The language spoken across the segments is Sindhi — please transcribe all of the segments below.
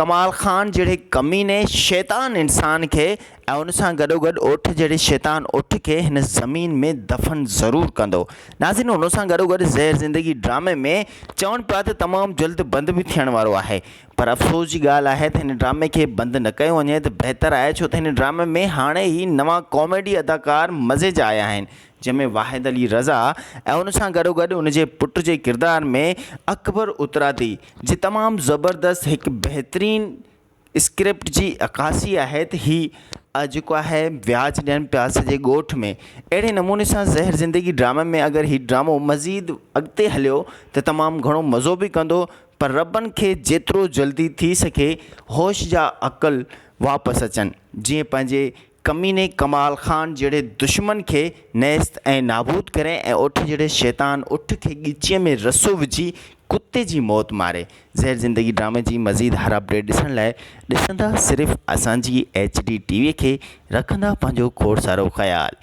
ڪمال خان جهڙي ڪميني شيطان انسان کي ۽ ان سان گڏوگڏ اٺ جهڙي شيطان اٺ کي هن زمين ۾ دفن ضرور ڪندو. ناظرين ان سان گڏوگڏ زهر زندگي ڊرامي ۾ چون پيا ته تمام جلد بند به ٿيڻ وارو آهي پر افسوس جي ڳالهه آهي ته هن ڊرامي کي بند نه ڪيو وڃي ته بهتر آهي ڇو ته هن ڊرامي ۾ هاڻي هي نوان ڪاميڊي اداڪار مزي جا آيا آهن جنهن ۾ واحد علي رضا ۽ ان سان گڏوگڏ ان جي پٽ جي ڪردار ۾ اڪبر اترادي جي تمام زبردست هڪ بهترين اسڪرپٽ جي عڪاسي آهي ته هي جيڪو آهي وياج ڏين پياس جي ڳوٺ ۾ اهڙي نموني سان زهر زندگي ڊرامي ۾ اگر هي ڊرامو مزيد اڳتي هليو ته تمام گهڻو مزو به ڪندو پر ربن کي جيترو جلدي ٿي سگهي هوش جا عقل واپس اچن جيئن پنهنجي ڪميني ڪمال خان جهڙي دشمن کي نيست ۽ نابود ڪري ۽ اٺ جهڙي شيطان اٺ کي ڳچيء ۾ رسو وجهي ڪتي جي موت ماري. زهر زندگي ڊرامي جي مزيد هر اپڊيٽ ڏسڻ لاء ڏسندا صرف اسان جي ايڇ ڊي ٽي وي کي رکندا پنهنجو کوڙ سارو خيال.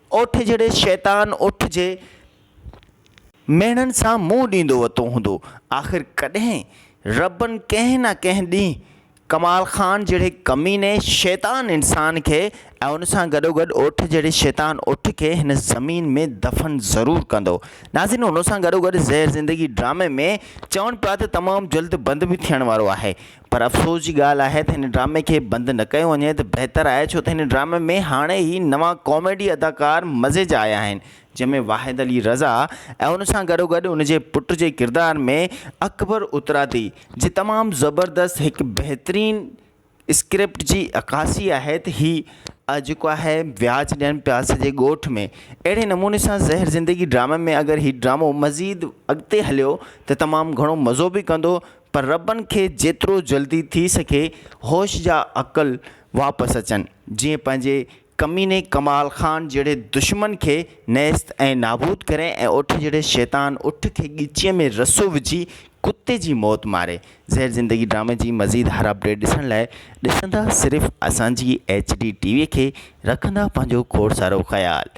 اوٺ جھڙي شيطان اوٺ جي ميڻن سان منهن ڏيندو وتو هوندو. آخر ڪڏهن ربن ڪنهن نه ڪنهن ڏينهن ڪمال خان جهڙي ڪميني شيطان انسان کي ۽ ان سان گڏوگڏ اوٺ جهڙي شيطان اوٺ کي هن زمين ۾ دفن ضرور ڪندو. ناظرين ان سان گڏوگڏ زهر زندگي ڊرامي ۾ چون پيا ته تمام جلد بند به ٿيڻ وارو آهي. پر افسوس جي ڳالهه آهي ته هن ڊرامي کي بند نه ڪيو وڃي ته بهتر آهي ڇو ته هن ڊرامي ۾ هاڻي هي نوان ڪاميڊي اداڪار مزي جا آيا آهن جنهن ۾ واحد علي رضا ۽ ان سان گڏو گڏ ان جي پٽ جي ڪردار ۾ اڪبر اترادي جي تمام زبردست هڪ بهترين اسڪرپٽ جي عڪاسي آهي ته هي جيڪو آهي وياج ڏين پيا سڄي ڳوٺ ۾ اهڙي نموني سان زهر زندگي ڊرامي ۾ اگر هي ڊرامو مزيد اڳتي هليو ته تمام گهڻو مزو به ڪندو پر ربن کي جيترو جلدي ٿي سگهي هوش جا عقل واپس اچن جيئن پنهنجي ڪميني ڪمال خان جهڙي دشمن کي نيست ۽ نابود ڪري ۽ اٺ جهڙي شيطان اٺ کي ڳچيء ۾ رسو وجهي ڪتي جي موت ماري زهر زندگي ڊرامي جي مزيد هر اپڊيٽ ڏسڻ لاء ڏسندا صرف اسان جي ايڇ ڊي ٽي وي کي رکندا پنهنجو کوڙ سارو خيال.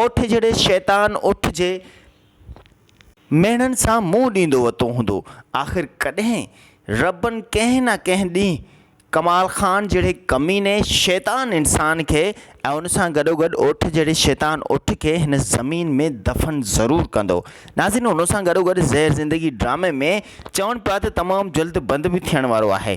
اوٺ جھڙي شيطان اوٺ جي ميڻن سان منهن ڏيندو وتو هوندو. آخر ڪڏهن ربن ڪنهن نه ڪنهن ڏينهن ڪمال خان جهڙي ڪميني شيطان انسان کي ۽ ان سان گڏوگڏ اوٺ جهڙي شيطان اوٺ کي هن زمين ۾ دفن ضرور ڪندو. ناظرين ان سان گڏوگڏ زهر زندگي ڊرامي ۾ چون پيا ته تمام جلد بند به ٿيڻ وارو آهي.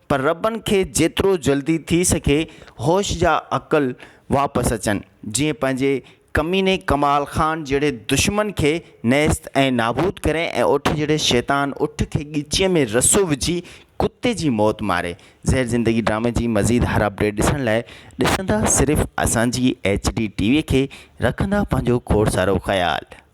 پر ربن کي جيترو جلدي ٿي سگهي هوش جا عقل واپس اچن جيئن پنهنجي ڪميني ڪمال خان جهڙي دشمن کي نيست ۽ نابود ڪري ۽ اٺ جهڙي شيطان اٺ کي ڳچيء ۾ رسو وجهي ڪتي جي موت ماري زهر زندگي ڊرامي جي مزيد هر اپڊيٽ ڏسڻ لاء ڏسندا صرف اسان جي ايڇ ڊي ٽي وي کي رکندا پنهنجو کوڙ سارو خيال.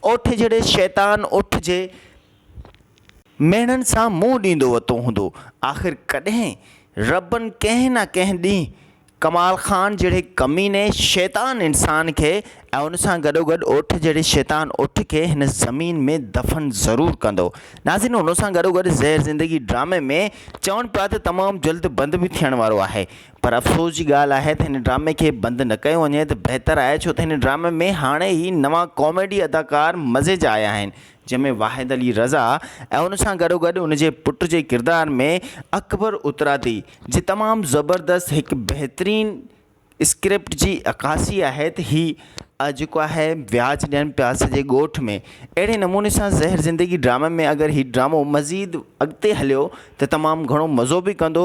اوٺ جھڙي شيطان اوٺ جي ميڻن سان منهن ڏيندو وتو هوندو. آخر ڪڏهن ربن ڪنهن نه ڪنهن ڏينهن ڪمال خان جھڙي ڪميني شيطان انسان کي ۽ ان سان گڏوگڏ اوٺ جھڙي شيطان اوٺ کي هن زمين ۾ دفن ضرور ڪندو. ناظرين ان سان گڏوگڏ زهر زندگي ڊرامي ۾ چون پيا ته تمام جلد بند به ٿيڻ وارو آهي پر افسوس جي ڳالهه آهي ته هن ڊرامي کي بند نه ڪيو وڃي ته بهتر آهي ڇو ته هن ڊرامي ۾ هاڻي هي نوان ڪاميڊي اداڪار مزي جا آيا آهن جنهن ۾ واحد علي رضا ۽ ان سان گڏوگڏ ان جي پٽ جي ڪردار ۾ اڪبر اترادي جي تمام زبردست هڪ بهترين اسڪرپٽ جي عڪاسي آهي ته هي جيڪو آهي وياج ڏين پياس جي ڳوٺ ۾ اهڙي نموني سان زهر زندگي ڊرامي ۾ اگر هي ڊرامو مزيد اڳتي هليو ته تمام گهڻو مزو به ڪندو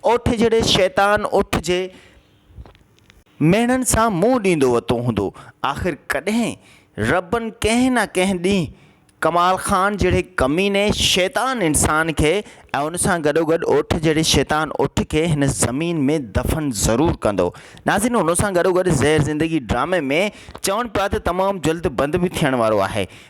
اوٺ جھڙي شيطان اوٺ جي ميڻن سان منهن ڏيندو وتو هوندو. آخر ڪڏهن ربن ڪنهن نه ڪنهن ڏينهن ڪمال خان جهڙي ڪميني شيطان انسان کي ۽ ان سان گڏوگڏ اوٺ جهڙي شيطان اوٺ کي هن زمين ۾ دفن ضرور ڪندو. ناظرين ان سان گڏوگڏ زهر زندگي ڊرامي ۾ چون پيا ته تمام جلد بند به ٿيڻ وارو آهي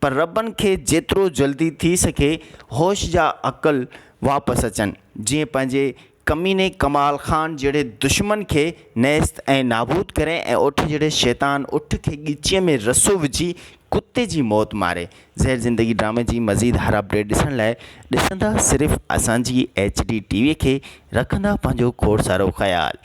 پر ربن کي جيترو جلدي ٿي سگهي هوش يا عقل واپس اچن جيئن پنهنجي ڪميني ڪمال خان جهڙي دشمن کي نيست ۽ نابود ڪري ۽ اٺ جهڙي شيطان اٺ کي ڳچيء ۾ رسو وجهي ڪتي جي موت ماري زهر زندگي ڊرامي جي مزيد هر اپڊيٽ ڏسڻ لاء ڏسندا صرف اسان جي ايڇ ڊي ٽي وي کي رکندا پنهنجو کوڙ سارو خيال.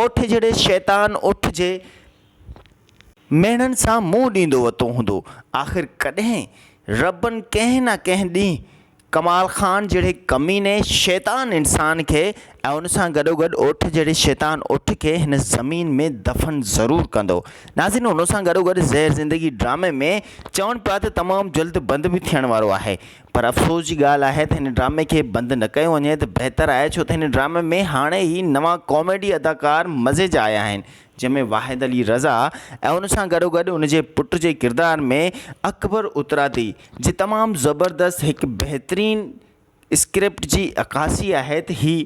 اوٺ جھڙي شيطان اوٺ جي ميڻن سان منهن ڏيندو وتو هوندو. آخر ڪڏهن ربن ڪنهن نه ڪنهن ڏينهن ڪمال خان جھڙي ڪميني شيطان انسان کي ۽ ان سان گڏوگڏ اوٺ جھڙي شيطان اوٺ کي هن زمين ۾ دفن ضرور ڪندو. ناظرين ان سان گڏوگڏ زهر زندگي ڊرامي ۾ چون پيا ته تمام جلد بند به ٿيڻ وارو آهي پر افسوس جي ڳالهه آهي ته هن ڊرامي کي بند نه ڪيو وڃي ته بهتر آهي ڇو ته هن ڊرامي ۾ هاڻي هي نوان ڪاميڊي اداڪار مزي جا آيا آهن جنهن ۾ واحد علي رضا ۽ ان سان گڏوگڏ ان جي پٽ جي ڪردار ۾ اڪبر اترادي جي تمام زبردست هڪ بهترين اسڪرپٽ جي عڪاسي آهي ته هي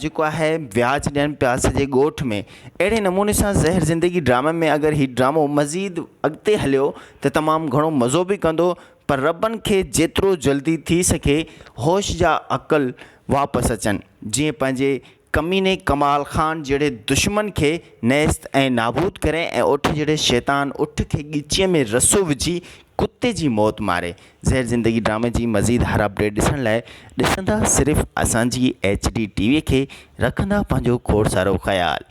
جيڪو آهي وياج ڏين پيا سڄي ڳوٺ ۾ اهڙي نموني سان زهر زندگي ڊرامي ۾ اگر هي ڊرامو مزيد اڳتي هليو ته تمام گهڻو مزو به ڪندو پر ربن کي جيترو جلدي ٿي سگهي هوش جا عقل واپس اچن جيئن پنهنجي ڪميني ڪمال خان جهڙي دشمن کي نيست ۽ نابود ڪري ۽ اٺ جهڙي شيطان اٺ کي ڳچيء ۾ رسو وجهي ڪتي جي موت ماري زهر زندگي ڊرامي جي مزيد هر اپڊيٽ ڏسڻ لاء ڏسندا صرف اسان جي ايڇ ڊي ٽي وي کي رکندا پنهنجو کوڙ سارو خيال.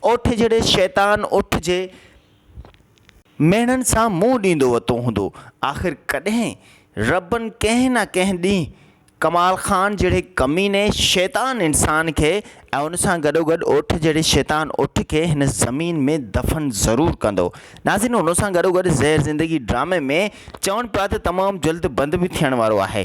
اوٺ جھڙي شيطان اوٺ جي ميڻن سان منهن ڏيندو وتو هوندو. آخر ڪڏهن ربن ڪنهن نه ڪنهن ڏينهن ڪمال خان جھڙي ڪميني شيطان انسان کي ۽ ان سان گڏوگڏ اوٺ جھڙي شيطان اوٺ کي هن زمين ۾ دفن ضرور ڪندو. ناظرين ان سان گڏوگڏ زهر زندگي ڊرامي ۾ چوڻ پيا ته تمام جلد بند به ٿيڻ وارو آهي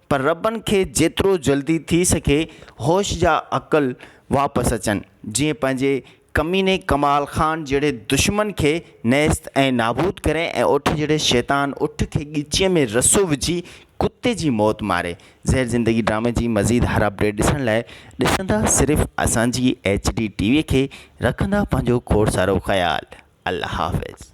پر ربن کي جيترو جلدي ٿي سگهي هوش يا عقل واپس اچن جيئن پنهنجي ڪميني ڪمال خان جهڙي دشمن کي نيست ۽ نابود ڪري ۽ اٺ جهڙي شيطان اٺ کي ڳچيء ۾ رسو وجهي ڪتي جي موت ماري زهر زندگي ڊرامي جي مزيد هر اپڊيٽ ڏسڻ لاء ڏسندا صرف اسان جي ايڇ ڊي ٽي وي کي رکندا پنهنجو کوڙ سارو خيال الله حافظ.